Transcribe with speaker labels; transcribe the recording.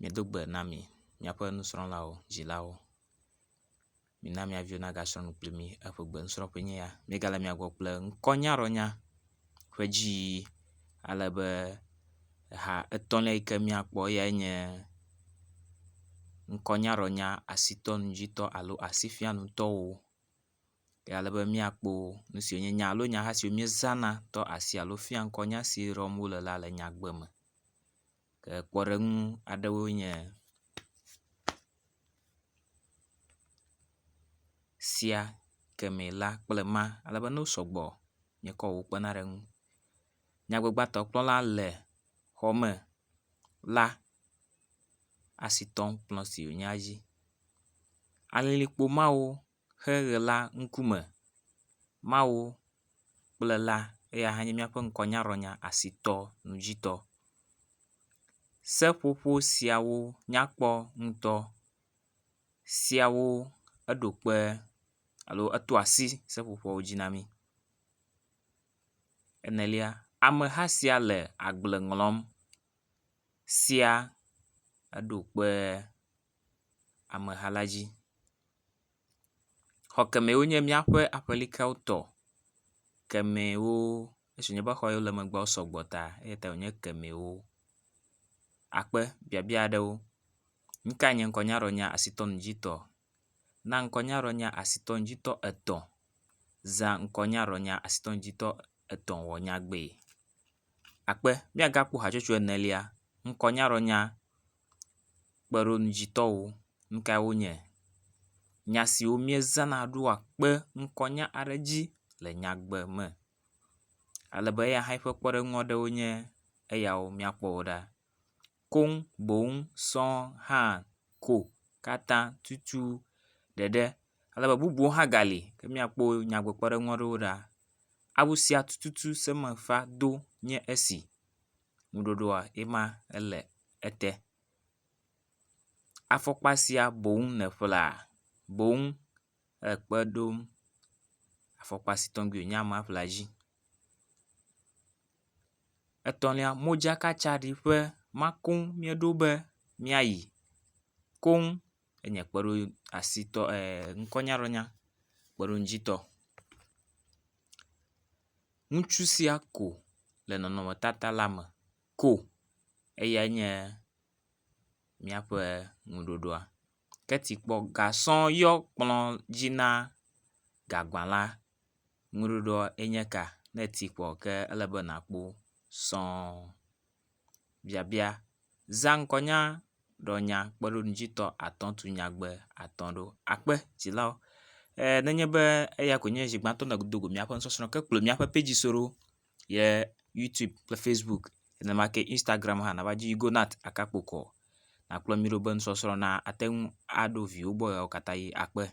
Speaker 1: Medo gbe na mi miaƒe nusrɔ̃lawo, dzilawo. Mina mia viwo nagasrɔ̃ nu kpli mi. Eƒe gbenusrɔ̃ƒe enye ya. Míegale mia gbɔ kple ŋkɔnyaɖɔnya ƒe dziyiyi ale be ha etɔ̃lia yi ke míakpɔ eyae nye ŋkɔnyaɖɔnya asitɔnununjitɔ alo asifianutɔwo. Ye ale be míakpɔ nu siwo nye nya alo nyaha siwo míezana tɔ asi alo fia ŋkɔ nya si ɖɔm wo le la le nyagbe me. ke kpɔɖeŋu aɖewoe nye sia, kemɛ la kple ma ale be ne wo sɔgbɔ nye kɔ wo kpena ɖe eŋu. Nyagbagbatɔkplɔla le xɔ me la asi tɔm kplɔ si wonya dzi. Alilikpo mawo. xexe la ŋkume, Mawu kple la eya hã nye míaƒe ŋkɔnyaɖɔnya asitɔ nudzitɔ. Seƒoƒo siawo nyakpɔ ŋutɔ siawo eɖo kpe alo eto asi seƒoƒoawo dzi na mí. Enelia, ameha sia le agble ŋlɔm sia eɖo kpe. ameha la dzi. Xɔ kemɛ wo nye míaƒe aƒelikawo tɔ. Kemɛwo esi nye be xɔ yiwo le megbe wo sɔgbɔ ta eya ta wo nye kemɛwo. Akpe biabia aɖewo. Nu kae nye ŋkɔnyaɖɔnya asitɔnɔdzitɔ? Na ŋkɔnyaɖɔnya asitɔnɔdzitɔ etɔ̃. Zã ŋkɔnyaɖɔnya asitɔnɔdzitɔ etɔ̃ wɔ nyagbee. Akpe míagakpɔ hatsotso enelia ŋkɔnyaɖɔnya. kpeɖoŋudzitɔwo nu kae wonye. Nya siwo miezãna ɖo woakpe ŋkɔnya aɖe dzi le nyagbe me ale be eya hã eƒe kpeɖeŋu aɖewo nye eyawo míakpɔ wo ɖa. Koŋ boŋ sɔ hã ko katã tutu ɖeɖe ale be bubuwo hã gali ke míakpɔ wo nyagbe kpeɖeŋu aɖewo ɖa. Awu sia tututu seme va do nye esi. nuɖoɖoa yema ele ete. Afɔkpa sia boŋ nèƒlea boŋ ekpe ɖom afɔkpa si tɔgbi wònye ama ƒlea edzi. Etɔ̃lia modzakatsaɖi ƒe ma koŋ míeɖo be míayi koŋ enye kpeɖoasitɔ e ŋkɔnyaɖɔnya kpeɖoŋudzitɔ. Ŋutsu sia ko le nɔnɔmetata la me ko eyae nye míaƒe nuɖoɖoa. Ke ti kpɔ gasɔ yɔ kplɔ dzi na gagba la. Nuɖoɖoa enye ka ne eti kpɔ ke ele be nakpɔ sɔɔ biabia. Zã ŋkɔnya ɖɔ nya kpeɖonudzitɔ atɔ̃ tu nyagbe atɔ̃ ɖo akpe dzilawo. E nenye be eya koe nye zi gbãtɔ nèdo go míaƒe nusɔsrɔ̃ ke kplɔ míaƒe pɛdzi so ɖo yɛ youtube kple facebook nenema ke instagram hã nava dzi Yugonat Akakpokɔ nakplɔ mí ɖo be nusɔsrɔ̃ nate ŋu aɖo viwo gbɔ ɣeawo katã ʋi akpe.